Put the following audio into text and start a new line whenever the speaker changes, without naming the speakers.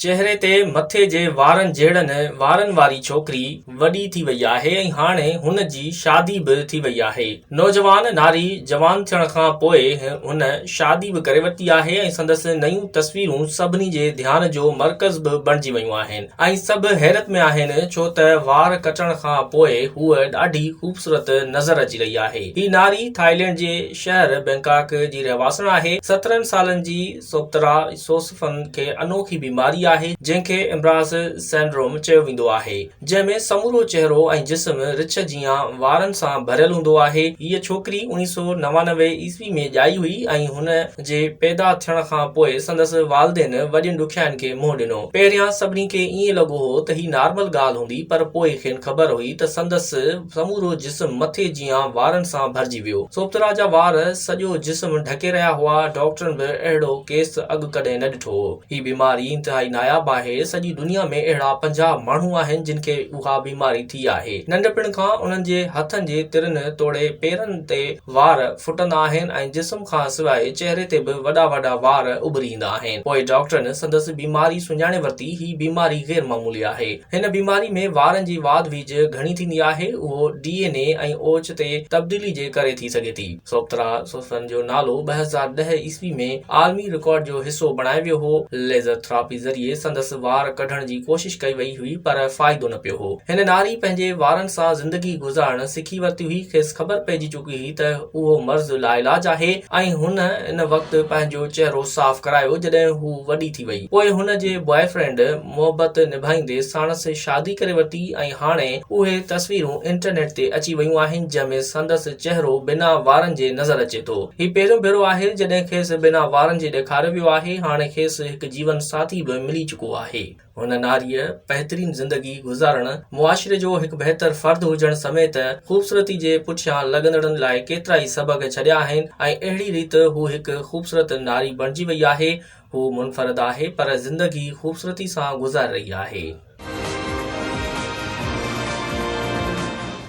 چهري تي مٿي جي وارن جهڙن وارن واري ڇوڪري وڏي ٿي وئي آهي ۽ هاڻي هن جي شادي به ٿي وئي آهي. نوجوان ناري جوان ٿيڻ کان پوء هن شادي به ڪري ورتي آهي ۽ سندس نيون تصويرون سڀني جي ڌيان جو مرڪز به بڻجي ويون آهن ۽ سڀ حيرت ۾ آهن ڇو ته وار ڪٽڻ کان پوء هوء ڏاڍي خوبصورت نظر اچي رهي آهي. هي ناري ٿائلينڊ جي شهر بئنڪاڪ جي رهواسڻ آهي. سترهن سالن جي سوڪترا سوسفن کي انوکي بيماري آهي جنهن کي امراض سينڊروم چيو ويندو آهي جنهن ۾ سمورو چهرو ۽ جسم رڇ جيان وارن سان ڀريل هوندو آهي هيء ڇوڪري اوڻيهه سؤ نوانوي عيسوي ۾ ڄائي هئي ۽ هن جي پيدا ٿيڻ کان پوء سندس والدين وڏين ڏکيائين کي منهن ڏنو پهريان سڀني کي ائين لڳو هو ته هي نارمل ڳالهه هوندي پر پوء کين خبر هئي ته سندس سمورو جسم مٿي جيان وارن سان ڀرجي ويو. سوپترا جا وار سڄو جسم ڍڪي رهيا هئا. ڊاڪٽرن به اهڙو ڪيس اڳ ڪڏهن نه ڏٺو هو. هي بيماري انتهائي ناياب آهي. سڄي دنيا ۾ اهڙا پنجاهه ماڻهو آهن جن کي اها بيماري ٿي آهي. ننڍپڻ کان انهن جي هٿن جي ترن توڙي پيرن تي وار ڦٽندا آهن ۽ جسم کان سواء چهري تي به وڏا وڏا وار اڀري ايندا آهن. پوء ڊاڪٽرن سندس بيماري سڃاڻي ورتي. هي بيماري غير معمولي آهي. هن بيماري ۾ وارن جي واڌ ويجهه گهڻي ٿيندي آهي، اهو ڊي اين اي ۽ اوچ تي تبديلي جي ڪري ٿي سگهي ٿي. سوپترا سوسن جو نالو ٻه هزار ڏهه عيسوي ۾ عالمي رڪارڊ جو حصو بڻايو ويو هو. ليزر ٿراپي ذريعي سندس وار ڪڍڻ جي ڪوشش ڪئي وئي هئي پر فائدو نه پيو هو. هن ناري پنهنجي وارن سان زندگي گذارڻ سکي ورتي هئي، کيس خبر پئجي چڪي هئي ته اهو مرض لاعلاج آهي ۽ هن ان وقت پنهنجو چهرو صاف ڪرايو جڏهن هو وڏي ٿي وئي. پوء هن جي بوائي فرينڊ. محبت نڀائيندي ساڻس شادي ڪري ورتي ۽ هاڻي اهي تصويرون انٽرنيٽ تي اچي ويون آهن جنهن ۾ سندس چهرو بنا وارن جي نظر اچي ٿو هي پهريون ڀيرو آهي جڏهن کيس بنا وارن جي ڏيکاريو ويو آهي هاڻي کيس هڪ جيون ساٿي به ملي چڪو آهي هن ناريء بهترين زندگي گذارڻ معاشري جو هڪ بهتر فرد هجڻ سميت خوبصورتي جي پٺيان لڳندڙن لاء ڪيترائي سبق ڇڏيا آهن ۽ اهڙي ريت هو هڪ خوبصورت ناري بڻجي وئي آهي هو منفرد آهي پر زندگي خوبصورتي سان گذار رهي آهي.